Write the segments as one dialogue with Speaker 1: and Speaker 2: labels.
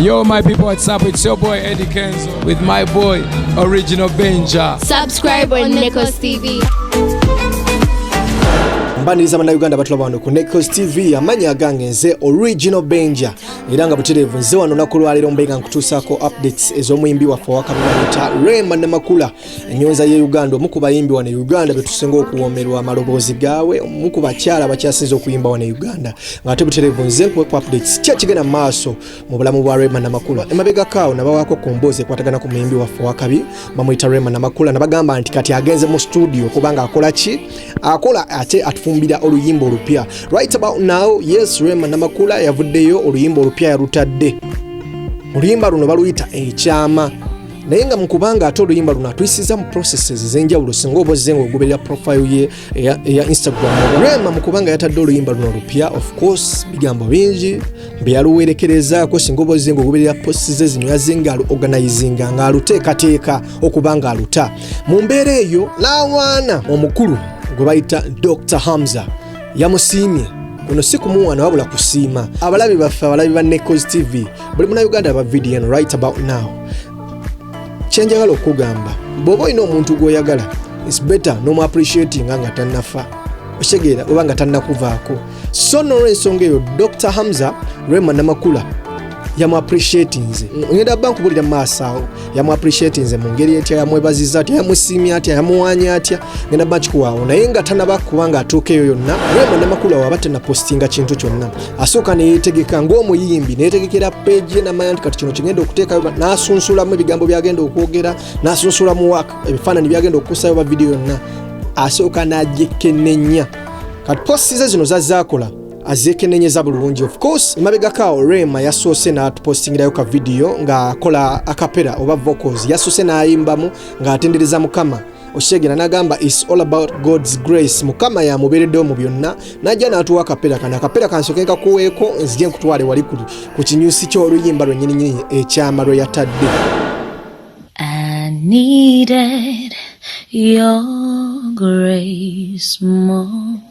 Speaker 1: Yo, my people, what's up? It's your boy Eddie Kenzo with my boy Original Benja. Subscribe on
Speaker 2: Nekos TV. mbaniriza bannayuganda batulaba wano ku necos tv amanya agange nze original benja era nga butereevu nze wano naku lwaleero mbenga nkutuusaako updates ez'omuyimbi waffe owakabinayita rema namakula enyonza ye uganda omu ku bayimbi wano e uganda betusinga okuwomerwa amaloboozi gaawe omu ku bakyala bakyasinza okuyimba wano e uganda ngaate buterevu nze nkuwe ku updates ki ekigenda mu maaso mu bulamu bwa rema namakula emabegakaawo nabawaako ku mboozi ekwatagana ku muyimbi waffe wakabi bamuyita rema namakula nabagamba nti kati agenze mu studio kubanga akola ki akola ate atufumbira oluyimba olupya right about now yes rema namakula yavuddeyo oluyimba olupya yalutadde oluyimba luno baluyita ekyama naye nga mukubanga ate oluyimba luno atuyisiza mu processes ezenjawulo singa oba ozze ngaogoberera profile ye eya instagram rema mukubanga yatadde oluyimba luno lupya of course bigambo bingi byeyaluwerekerezaako singa oba ozze ngaogoberera post ze zino yazze nga aluorganizinga nga aluteekateeka okuba nga aluta mu mbeera eyo n'awaana omukulu gwe bayita dr hamza yamusiimye kuno si kumuwaana wabula kusiima abalabi baffe abalabi ba necos tv buli muna uganda aba video eno right about now kyenjagala okugamba bwoba olina omuntu gwoyagala its better nomu appreciatinga nga tannafa okitegeera oba nga tannakuvaako so nolwensonga eyo dr hamza rema namakula yamu appreciatinze ngenda bankubuulira mu maaso awo yamu appreciatinze mu ngeri etya yamwebaziza atya yamusiimye atya yamuwaanya atya ngenda bakikuwaawo naye nga tanaba kuba nga atuuka eyo yonna naye banamakulu awo aba tanapostinga kintu kyonna asooka neyetegeka ng'omuyimbi neyetegekera peegi ye namanya nti kati kino kigenda okuteekayo n'asunsulamu ebigambo byagenda okwogera n'asunsulamu wak ebifaananyi byagenda okukusayo ba vidiyo yonna asooka n'agyekenenya kati posti ze zino zazaakola azekenenyeza bulungi of course emabegakaawo rema yasoose n'atupostingirayo ka vidiyo ng'akola akapera oba vocals yasoose n'ayimbamu ng'atendereza mukama okitegera nagamba is all about god's grace mukama yamubeereddewo mu byonna najja n'atuwa akapera kano akapera kansoke nkakuweeko nzije nkutwale wali ku kinyusi ky'oluyimba lwenyininyini ekyama lwe yatadde I
Speaker 3: needed your grace more.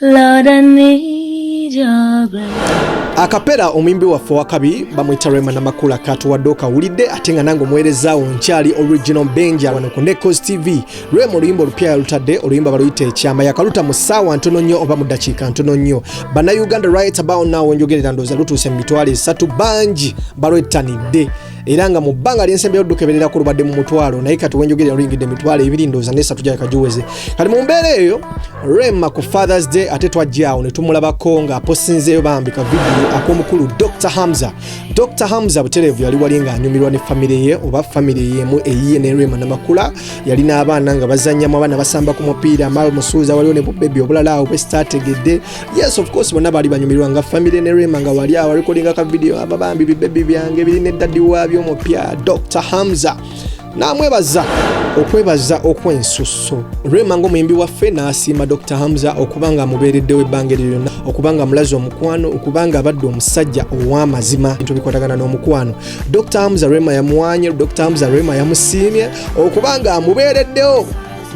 Speaker 3: Lord, I need your grace. akapera omuyimbi
Speaker 2: waffe wakabi bamwita rema namakula katuwadde okawulidde ate nga nange omuweerezaawo nkyali original benja wano ku necos tv rema oluyimba olupya yalutadde oluyimba baluyita ekyama yakaluta mu ssaawa ntono nnyo oba mu ddakiika ntono nnyo bannayuganda right about now wenjogerera ndooza lutuuse mu mitwalo esatu bangi balwettanidde era nga mu bbanga lyensembyeyo dukeberera ku lubadde mu mutwalo naye kati wenjogerera luyingidde emitwalo ebiri ndooza nesatu gyaleka giweze kati mu mbeera eyo rema ku fathers day ate twajjaawo ne tumulabako nga aposinzeeyo bambi ka vidiyo ak'omukulu dr hamza dr hamza butereevu yali wali ng'anyumirwa ne famire ye oba famire yemu eyiye ne rema namakula yali n'abaana nga bazannyamu abaana basamba ku mupiira mal musuuza waliwo ne bubebi obulala awo bwe sitaategedde yes of course bonna baali banyumirwa nga family ne rema nga wali awo recordinga ka video aba bambi bibebi byange biri ne daddy waabyo omupya dr hamza namwebaza okwebaza okwensusso rema ngaomuyimbi waffe n'asiima dr hamza okuba nga amubeereddewo ebbanga eryo lyonna okuba nga amulaze omukwano okuba nga abadde omusajja ow'amazima bintu bikwatagana n'omukwano dr hamza rema yamuwanye dr hamza rema yamusiimye okuba nga amubeereddewo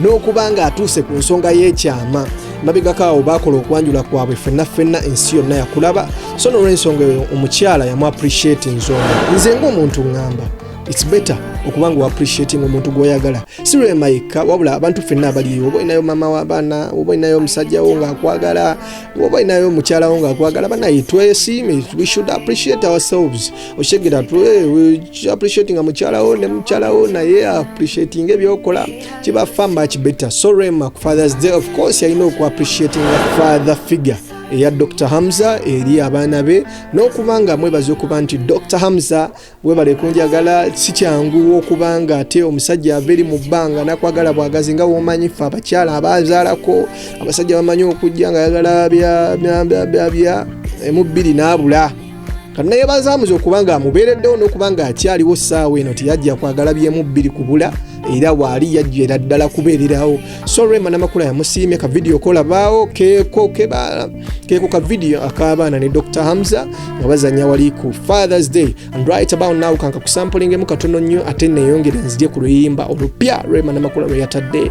Speaker 2: n'okuba ng'atuuse ku nsonga y'ekyama mabegako awo baakola okwanjula kwabwe fenna fenna ensi yonna yakulaba so nolwensonga eyo omukyala yamu appreciate nsonga nze ngaomuntu ŋŋamba its better okuba nga oappreciating omuntu gwoyagala si lwema yekka wabula abantu fenna abaliyo oba olinayo maama w'abaana oba olinayo omusajjawo ng'akwagala oba olinayo omukyalawo ng'akwagala banaye twesiime we should appreciate ourselves oshegera tu eh, appreciating mukyala wo ne mukyala wo naye appreciating ebyokola kiba far much better so rema ku fathers day of course yalina oku appreciating father figure eya dr hamza eri abaana be n'okuba nga mwebaza okuba nti dr hamza webale kunjagala si kyangu okuba nga ate omusajja ava eri mu bbanga nakwagala bwagazi nga womanyi fe abakyala abazaalako abasajja bamanyi okujja nga yagala bya bya bya bya bya emu bbiri n'abula kanayebaza muze okuba nga amubeereddewo n'okuba nga akyaliwo ssaawa eno teyajja kwagala byemu bbiri kubula era waali yajjera ddala kubeererawo so rema namakula yamusiimye ka vidiyo kolabaawo keeko kebaala keeko ka vidiyo ak'abaana ne dr hamza nga bazanya wali ku fathers day and right about now kanka kusampulingemu katono nnyo ate neeyongere nzirye ku luyimba olupya rema namakula lwe yatadde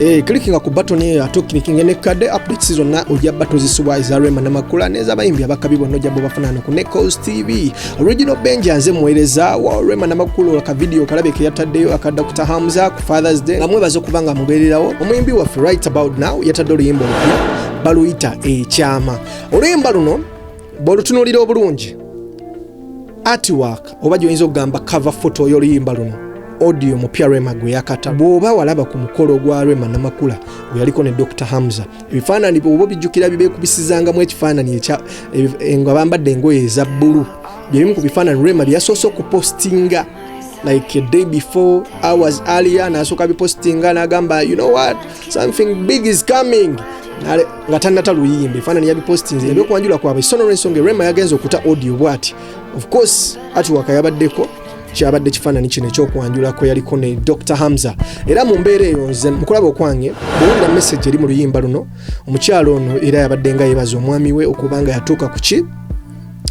Speaker 2: Eh, clickinga ku button eyo ate okinikinga ne kadde updates zonna ojja battle zisubwa eza Rema na Makula n'ezabayimbi abakabi bonna ojja bo bafanana ku Neco's TV original Benja nze muweereza wa Rema na Makula ka video kalabe ke yataddeyo aka Dr Hamza ku Father's Day nga mwebaza okuba nga mubeererawo omuyimbi waffe right about now yatadde oluyimba olupya baluyita ekyama oluyimba luno bw'olutunuulira obulungi artwork oba gyoyinza okugamba cover photo y'oluyimba luno audio mupya rema gwe yakata bw'oba walaba ku mukolo gwa rema namakula gwe yaliko ne dr hamza ebifaanani bwoba obijjukira bibekubisizangamu ekifaanani ekya eh, nga bambadde engoye eza bbulu byebimu ku bifaanani rema byeyasoose okupostinga like a day before hours earlier nasooka bipostinga nagamba you know what something big is coming nga tanata luyimba efaanani yabipostinze ebyokwanjula kwabwe sono lwensonga rema yagenze okuta audio bwati of course atiwaka yabaddeko kyabadde kifaananyi kino ekyokwanjula kwe yaliko ne dr hamza era mu mbeera eyo nze mukulaba okwange bwewulira message eri mu luyimba luno omukyalo ono era yabadde nga yebaza omwami we okubanga yatuuka ku ki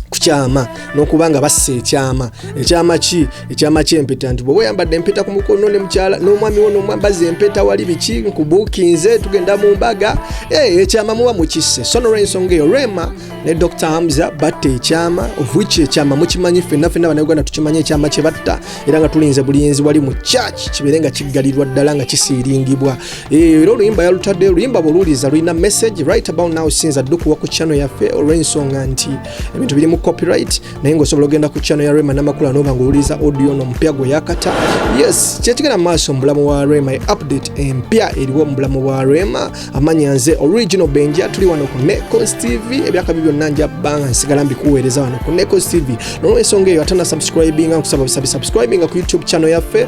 Speaker 2: kukyama nokuba nga bassa ekyama ekyama ki ekyama kyempeta nti bwoba oyambadde empeta ku mukono ne mukyala n'omwami wo nomwambaza empeta wali biki nkubuukinze tugenda mu mbaga eh, ekyama muba mukisse so nolwensonga eyo rema ne dr hamza batta ekyama ovuki ekyama mukimanyi fenna fenna banauganda tukimanyi ekyama kye batta era nga tulinze bulinzi wali mu church kibeere nga kiggalirwa ddala nga kisiiringibwa Eh, era oluyimba yalutadde oluyimba bwoluwuliza lulina message right about now sinza addukuwa ku channel yaffe olw'ensonga nti ebintu birimu copyright naye ngaosobola ogenda ku channel ya rema namakula noba nga owuliza audio no mupya gwe yakata yes kyekigenda mu maaso mubulamu wa rema update empya eriwo mu bulamu bwa rema amanya nze original benja tuli wano ku necos tv ebyakabi byonna nja banga nsigala mbikuweereza wano ku necos tv nolwensonga eyo ate nasubscribinga nkusaba busabi subscribinga ku youtube channel yaffe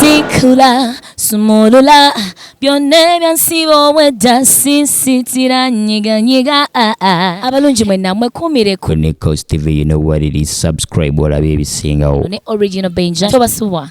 Speaker 2: tikula
Speaker 3: sumulula byonna ebyansiba obwedda sisitira nyiganyiga ah, ah. abalungi mwenna mwekuumireko ne cos tv you know what it is subscribe olabe ebisingawo ne original benja tobasubwa